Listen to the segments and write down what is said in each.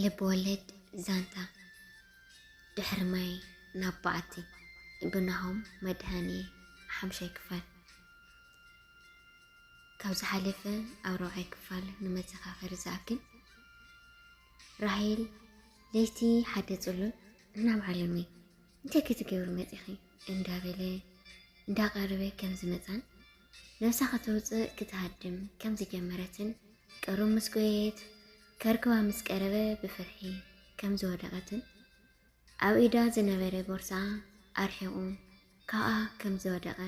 ልብ ወለድ ዛንታ ድሕሪ ማይ ናብ በዓቲ ብናሆም መድሃኒ ሓምሻይ ክፋል ካብ ዝሓለፈ ኣብ ረብዓይ ክፋል ንመዘኻኸሪ ዝኣክል ራሄል ለይቲ ሓደ ፅሉል ናብ ዓለመይ እንታይ ክትገብሪ መጺኺ እንዳበለ እንዳቐረበ ከም ዝመጻን ነብሳ ከተውጽእ ክትሃድም ከም ዝጀመረትን ቀሩብ ምስ ጎየየት ከርክባ ምስ ቀረበ ብፍርሒ ከም ዝወደቐትን ኣብ ኢዳ ዝነበረ ቦርሳ ኣርሒቑ ካብኣ ከም ዝወደቐ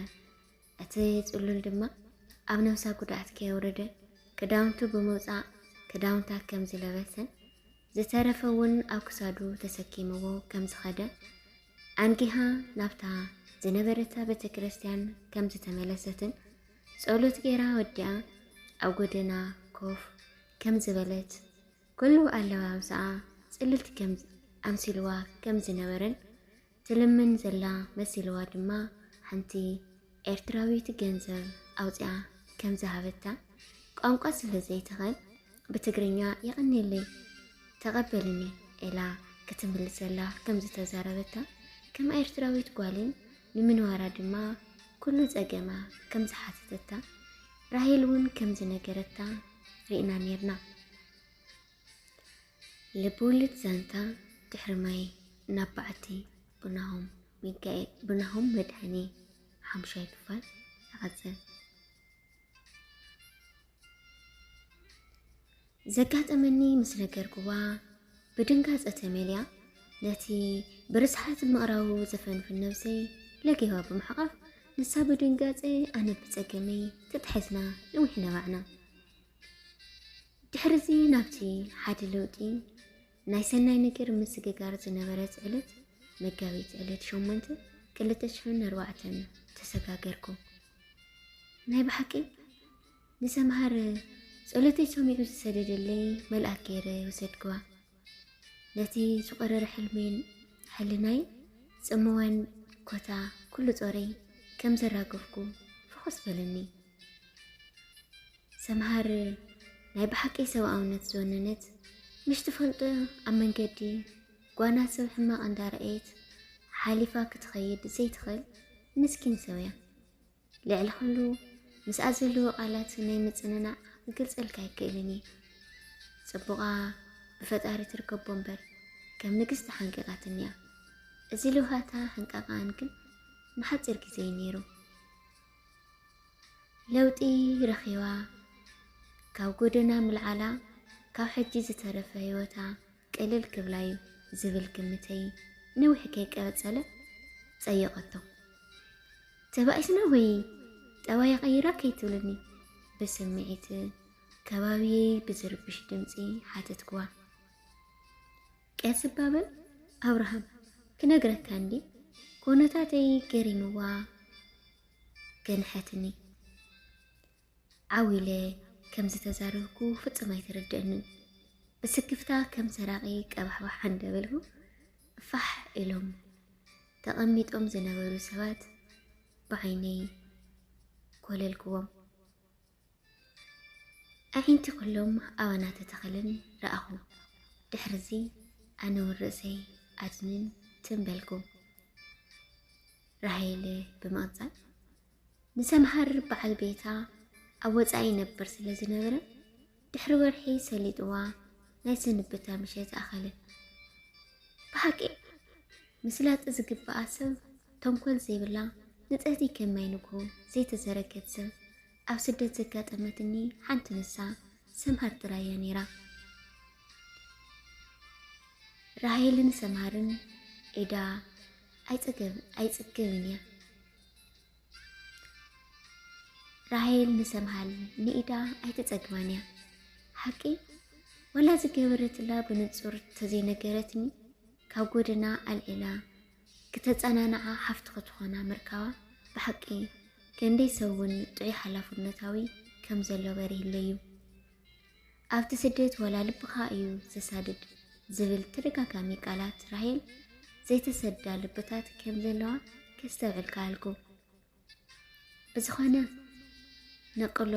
እቲ ጽሉል ድማ ኣብ ነብሳ ጉድኣት ከየውረደ ክዳውንቱ ብምውጻእ ክዳውንታ ከም ዝለበሰን ዝተረፈ እውን ኣብ ክሳዱ ተሰኪምዎ ከም ዝኸደ ኣንጊሃ ናብታ ዝነበረታ ቤተ ክርስቲያን ከም ዝተመለሰትን ጸሎት ጌራ ወዲኣ ኣብ ጎደና ኮፍ ከም ዝበለት ኩሉ ኣለባብሳኣ ጽልልቲ ከም ኣምሲልዋ ከም ዝነበረን ትልምን ዘላ መሲልዋ ድማ ሓንቲ ኤርትራዊት ገንዘብ ኣውጺኣ ከም ዝሃበታ ቋንቋ ስለ ዘይትኽእል ብትግርኛ የቐኔለይ ተቐበልኒ ኢላ ክትምልሰላ ከም ዝተዛረበታ ከም ኤርትራዊት ጓልን ንምንዋራ ድማ ኩሉ ጸገማ ከም ዝሓተተታ ራሄል እውን ከም ዝነገረታ ርኢና ኔርና። ልብወለድ ዛንታ ድሕሪ ማይ ናብ በዓቲ ብናሆም ሚካኤል ብናሆም መድሃኔ ሓሙሻይ ክፋል ይቐጽል። ዘጋጠመኒ ምስ ነገርክዋ ብድንጋጸ ተመልያ ነቲ ብርስሓት ምቕራቡ ዘፈንፍን ነብሰይ ለጊባ ብምሕቓፍ ንሳ ብድንጋጸ ኣነ ብጸገመይ ተታሒዝና ንዊሕ ነባዕና። ድሕርዚ ናብቲ ሓደ ለውጢ ናይ ሰናይ ነገር ምስግጋር ዝነበረት ዕለት መጋቢት ዕለት ሸሞንተ ክልተ ሽሕን ኣርባዕተን ተሰጋገርኩ። ናይ ብሓቂ ንሰምሃር ጸሎተይ ሰሚዑ ዝሰደደለይ መልኣክ ገይረ ወሰድክዋ ነቲ ዝቆረረ ሕልሜን ሕልናይ ጽምዋን ኮታ ኩሉ ጾረይ ከም ዘራገፍኩ ፍኹስ በለኒ። ሰምሃር ናይ ብሓቂ ሰብኣውነት ዝወነነት ምሽ ትፈልጦ ኣብ መንገዲ ጓና ሰብ ሕማቕ እንዳረኣየት ሓሊፋ ክትኸይድ ዘይትኽእል ምስኪን ሰብ እያ። ልዕሊ ኩሉ ምስኣ ዘለዎ ቃላት ናይ ምጽንናዕ ክገልጸልካ ኣይክእልን እየ። ጽቡቓ ብፈጣሪ ትርከቦ እምበር ከም ንግስቲ ሓንቂቓትኒ እያ። እዚ ልውሃታ ሕንቃቓኣን ግን ንሓጺር ግዜ እዩ ነይሩ። ለውጢ ረኺባ ካብ ጎደና ምልዓላ ካብ ሕጂ ዝተረፈ ህይወታ ቅልል ክብላ እዩ ዝብል ግምተይ ነዊሕ ከይቀጸለ ጸየቐቶ። ተባኢስና ወይ ጠባይ ቀይራ ከይትብልኒ ብስምዒት ከባቢየይ ብዝርብሽ ድምፂ ሓተትክዋ። ቄስ እባ በል ኣብርሃም ክነግረካ እንድየ ኮነታተይ ገሪምዋ ገንሐትኒ ዓዊለ ከም ዝተዛረብኩ ፍጹም ኣይተረድአንን ብስክፍታ ከም ሰራቂ ቀባሕባሕ እንዳበልኩ ፋሕ ኢሎም ተቐሚጦም ዝነበሩ ሰባት ብዓይነይ ኮለልክዎም። ኣዒንቲ ዅሎም ኣባና ተተኸለን ረኣኹ። ድሕርዚ ኣነውን ርእሰይ ኣድንን ትም በልኩ። ራሄል ብምቕጻል ንሰምሃር በዓል ቤታ ኣብ ወጻኢ ይነብር ስለ ዝነበረ ድሕሪ ወርሒ ሰሊጥዋ ናይ ስንብታ ምሸት ኣኸለ። ብሓቂ ምስላጥ ዝግብኣ ሰብ ተንኮል ዘይብላ ንጽህቲ ከም ማይ ንግሆ ዘይተዘረገት ስም ኣብ ስደት ዘጋጠመትኒ ሓንቲ ንሳ ሰምሃር ጥራይ እያ ነይራ። ራሄልን ሰምሃርን ኤዳ ኣይጽገብን እያ። ራሄል ንሰምሃል ንኢዳ ኣይትጸግባን እያ ሓቂ ወላ ዝገበረትላ ብንጹር ተዘይነገረትኒ ካብ ጎደና ኣልዒላ ክተጸናንዓ ሃፍቲ ክትኾና ምርካባ ብሓቂ ከንደይ ሰብ እውን ጥዑይ ሓላፍነታዊ ከም ዘሎ በሪህለይ እዩ። ኣብቲ ስደት ወላ ልብኻ እዩ ዘሳድድ ዝብል ተደጋጋሚ ቃላት ራሄል ዘይተሰዳ ልብታት ከም ዘለዋ ከስተብዕል ከኣልኩ። ብዝኾነ ነቕሎ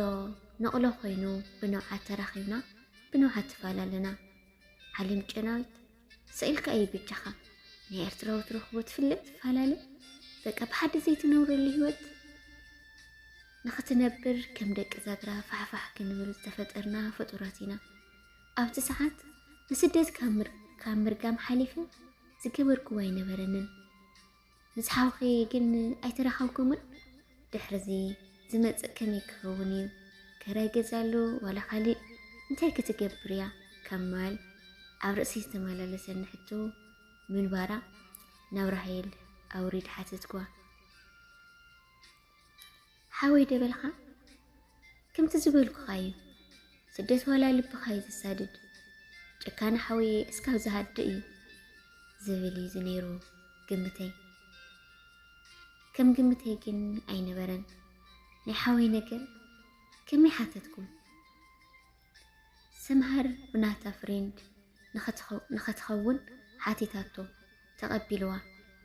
ነቕሎ ኮይኑ ብንውዓት ተራኺብና ብንውዓት ትፈላለና ዓለም ጨናዊት ስኢልካ እዩ ብቻኻ ናይ ኤርትራዊ ትረኽቦ ትፍለጥ ትፈላለ በቃ ብሓደ ዘይትነብረሉ ህይወት ንኽትነብር ከም ደቂ ዛግራ ፋሕፋሕ ክንብል ዝተፈጠርና ፍጡራት ኢና ኣብቲ ሰዓት ንስደት ካብ ምርጋም ሓሊፈ ዝገበርክዎ ኣይነበረንን ምስ ሓውኺ ግን ኣይተራኸብኩምን? ድሕርዚ ዝመጽእ ከመይ ክኸውን እዩ? ከራይ ገዛሉ ዋላ ካልእ እንታይ ክትገብር እያ? ካብ ማል ኣብ ርእሲ ዝተመላለሰኒ ሕቶ ምንባራ ናብ ራሄል ኣውሪድ ሓተትኳ። ሓወይ ደበልካ ከምቲ ዝበልኩኻ እዩ ስደት ዋላ ልብኻ እዩ ዘሳድድ ጭካነ ሓወየ እስካብ ዝሃድእ እዩ ዝብል እዩ ዝነይሩ ግምተይ ከም ግምተይ ግን ኣይነበረን ናይ ሓወይ ነገር ከመይ ሓተትኩም ሰምሃር ብናታ ፍሬንድ ንኸትኸውን ሓቲታቶ ተቐቢልዋ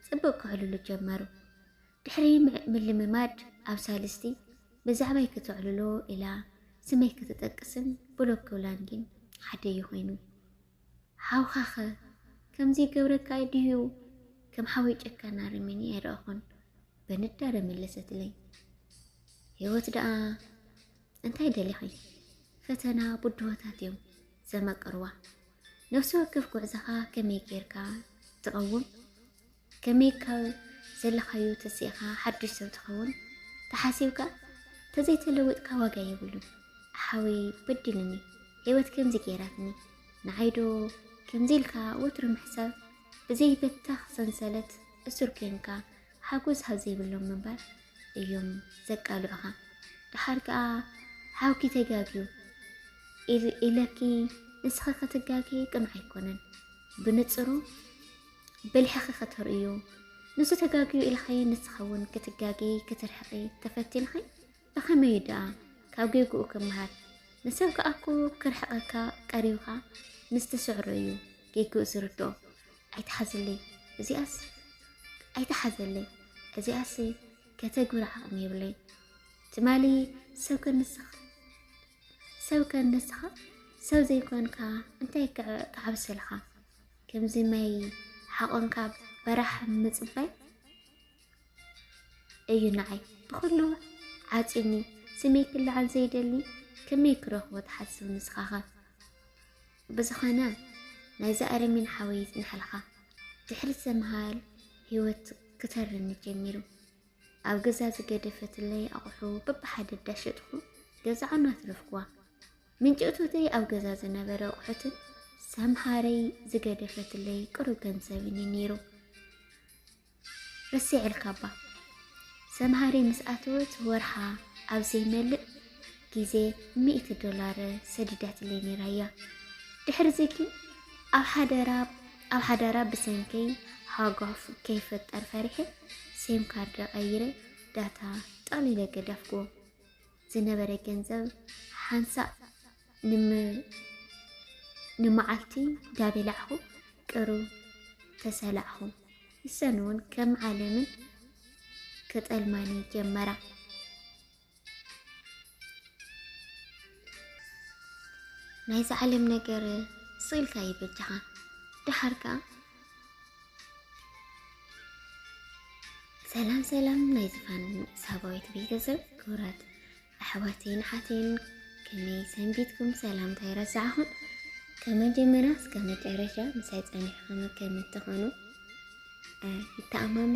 ጽቡቕ ክሕልሉ ጀመሩ ድሕሪ ምልምማድ ኣብ ሳልስቲ ብዛዕባይ ክተዕልሎ ኢላ ስመይ ክትጠቅስን ብሎክ ክብላን ግን ሓደ'ዩ ኮይኑ። ሓውካኸ ከምዚ ይገብረካ ድዩ? ከም ሓወይ ጨካን ኣረሜኔ ኣይረኣኹን በንዳረ መለሰትለይ። ህይወት ደኣ እንታይ ደሊኺ? ፈተና ብድሆታት እዮም ዘመቅርዋ። ነፍሲ ወከፍ ጉዕዛኻ ከመይ ጌርካ ትቐውም ከመይ ካብ ዘለኻዮ ተሲእኻ ሓዱሽ ሰብ ትኸውን ተሓሲብካ ተዘይተለዊጥካ ዋጋ የብሉን። ሓወይ በዲሉኒ ህይወት ከምዚ ገይራትኒ ንዓይዶ ከምዚ ኢልካ ወትሩ ምሕሳብ ብዘይበተኽ ሰንሰለት እሱር ኮንካ ሓጎስ ሃብ ዘይብሎም ምንባር እዮም ዘቃልዑኻ። ድሓር ከዓ ሓውኪ ተጋግዩ ኢለኪ ንስኺ ክትጋጊ ቅኑዕ ኣይኮነን ብንፅሩ ብልሕኺ ከተርእዩ ንሱ ተጋግዩ ኢልኻየ ንስኻ እውን ክትጋጊ ክትርሕኺ ተፈቲንኺ ብኸመይ እዩ ደኣ ካብ ጌግኡ ክምሃር ንሰብ ከዓ እኮ ክርሕቐካ ቀሪብኻ ምስ ትስዕሮ እዩ ጌግኡ ዝርድኦ ኣይትሓዝለይ እዚኣስ ኣይትሓዘለይ እዚኣስ ከተግብር ዓቕሚ የብለይ ትማሊ ሰብ ከንስኻ ሰብ ከንስኻ ሰብ ዘይኮንካ እንታይ ክዓብሰልኻ ከምዚ ማይ ሓቆንካ በራሕ ምጽባይ እዩ ንዓይ ብኩሉ ዓጽኒ ስመይ ክልዓል ዘይደሊ ከመይ ክረኽቦ ትሓስብ ንስኻኸ ብዝኾነ ናይዚ ኣረሚን ሓወይ ይጽንሐልካ ድሕሪ ሰምሃል ህይወት ክተርኒ ጀሚሩ ኣብ ገዛ ዝገደፈትለይ ኣቑሑ በብሓደ ዳሸጥኹ ገዛዖን ኣትረፍኩዋ ምንጪ እቶተይ ኣብ ገዛ ዝነበረ ኣቑሑትን ሰምሃረይ ዝገደፈትለይ ቅሩብ ገንዘብን እዩ ነይሩ። ረሲዐልካባ ሰምሃረይ ምስ ኣተወት ወርሓ ኣብ ዘይመልእ ግዜ ሚእቲ ዶላር ሰዲዳትለይ ነይራ እያ ድሕሪዚ ግን ኣብ ሓደራ ኣብ ሓዳራ ብሰንከይ ሃጓፍ ከይፈጠር ፈሪሐ ሴም ካርድ ቀይረ ዳታ ጠቕሊለ ገዳፍኩዎ ዝነበረ ገንዘብ ሓንሳእ ንመዓልቲ ዳበላዕኹ ቅሩ ተሰላዕኹ። ንሰን እውን ከም ዓለምን ክጠልማኒ ጀመራ። ናይዚ ዓለም ነገር ስኢልካ ይበጃኻ ደሓር ከዓ ሰላም ሰላም ናይ ዝፋን ሳባዊት ቤተሰብ ክብራት ኣሕዋተይን ሓተይን ከመይ ሰንቢትኩም? ሰላምታ ይረሳዕኹም ከመጀመሪያ እስከ መጨረሻ ምሳይ ጸኒሕኩም ከም እትኾኑ ይተኣማመን።